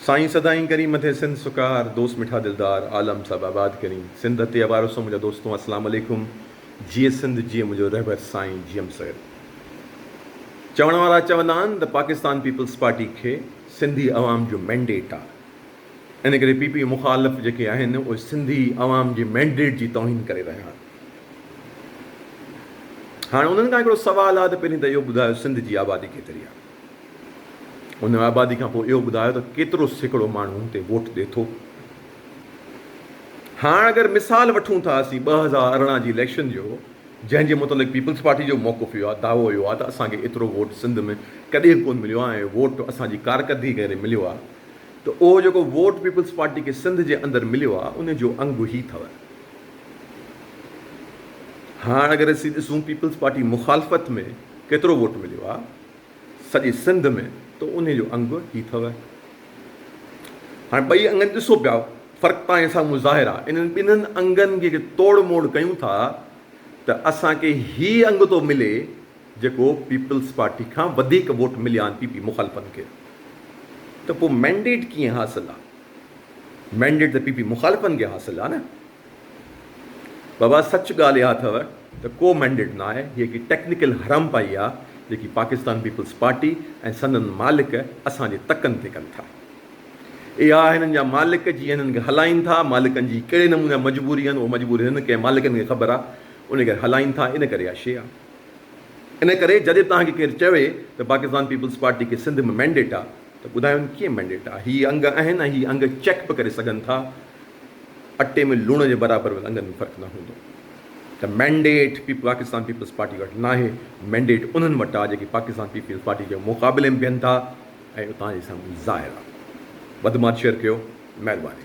سائين سدائين ڪرين مٿي سنڌ سڪار دوست مٺا دلدار عالم صاحب آباد ڪرين سنڌ اتي اوارسو منهنجا دوستون اسلام عليڪم جيئي سنڌ جيئي منهنجو رهبر سائين جيئم سيد چوڻ وارا چوندا آهن ته پاڪستان پيپلز پارٽي کي سنڌي عوام جو مينڊيٽ آهي ان ڪري پي پي مخالف جيڪي آهن اهي سنڌي عوام جي مينڊيٽ جي توهين ڪري رهيا آهن هاڻ انهن کان هڪڙو سوال آهي ته پهرين ته اهو ٻڌايو سنڌ جي آبادي ڪيتري آهي ان آبادي کان پوء اهو ٻڌايو ته ڪيترو سيڪڙو ماڻهو هتي ووٽ ڏي ٿو. هاڻ اگر مثال وٺون ٿا اسين ٻه هزار ارڙهن جي اليڪشن جو جنهن جي متعلق پيپلز پارٽي جو موقف اهو آهي دعوو اهو آهي ته اسان کي ايترو ووٽ سنڌ ۾ ڪڏهن به ڪونه مليو آهي ۽ ووٽ اسان جي ڪارڪردگي ڪري مليو آهي ته اهو جيڪو ووٽ پيپلز پارٽي کي سنڌ جي اندر مليو آهي ان جو انگ هي اٿو. هاڻ اگر اسين ڏسون پيپلز پارٽي مخالفت ۾ ڪيترو ووٽ مليو آهي. سڄي سنڌ ۾ ته انهي جو انگ هي ٿو. هاڻي ٻئي انگن ڏسو پيا فرق پاڻهي سامهون ظاهر آ. انهن ٻنهن انگن جي جي توڙ موڙ ڪيون ٿا ته اسان کي هي انگ ٿو ملي جيڪو پيپلز پارٽي کان وڌيڪ ووٽ مليا آهن پي پي مخالفن کي ته پو مينڊيٽ ڪيئن حاصل آ. مينڊيٽ ته پي پي مخالفن کي حاصل آ نه. بابا سچ ڳالهه اها اٿو ته ڪو مينڊيٽ نه آهي هي هڪ ٽيڪنيڪل حرامپائي آهي جيڪي پاڪستان پيپلز پارٽي ۽ سندن مالڪ اسان جي تڪن تي ڪن ٿا اها هنن جا مالڪ جي هنن کي هلائين ٿا مالڪن جي ڪهڙي نموني جا مجبوري آهن اهو مجبوري هنن کي مالڪن کي خبر آهي انهي ڪري هلائين ٿا ان ڪري اها شي آهي ان ڪري جڏهن توهان کي ڪير چوي ته پاڪستان پيپلز پارٽي کي سنڌ ۾ مينڊيٽ آهي ته ٻڌايون ڪيئن مينڊيٽ آهي هي انگ آهن ۽ هي انگ چيڪ به ڪري سگهن ٿا اٽي ۾ لوڻ جي برابر به انگن ۾ فرق نه هوندو ته مينڊيٽ پاڪستان پيپلز پارٽي وٽ ناهي مينڊيٽ انهن وٽ آهي جيڪي پاڪستان پيپلز پارٽي جي مقابلي ۾ بيهن ٿا ۽ اتان جي سمجهه ظاهر آهي وڌ ماٺ شيئر ڪيو مهرباني.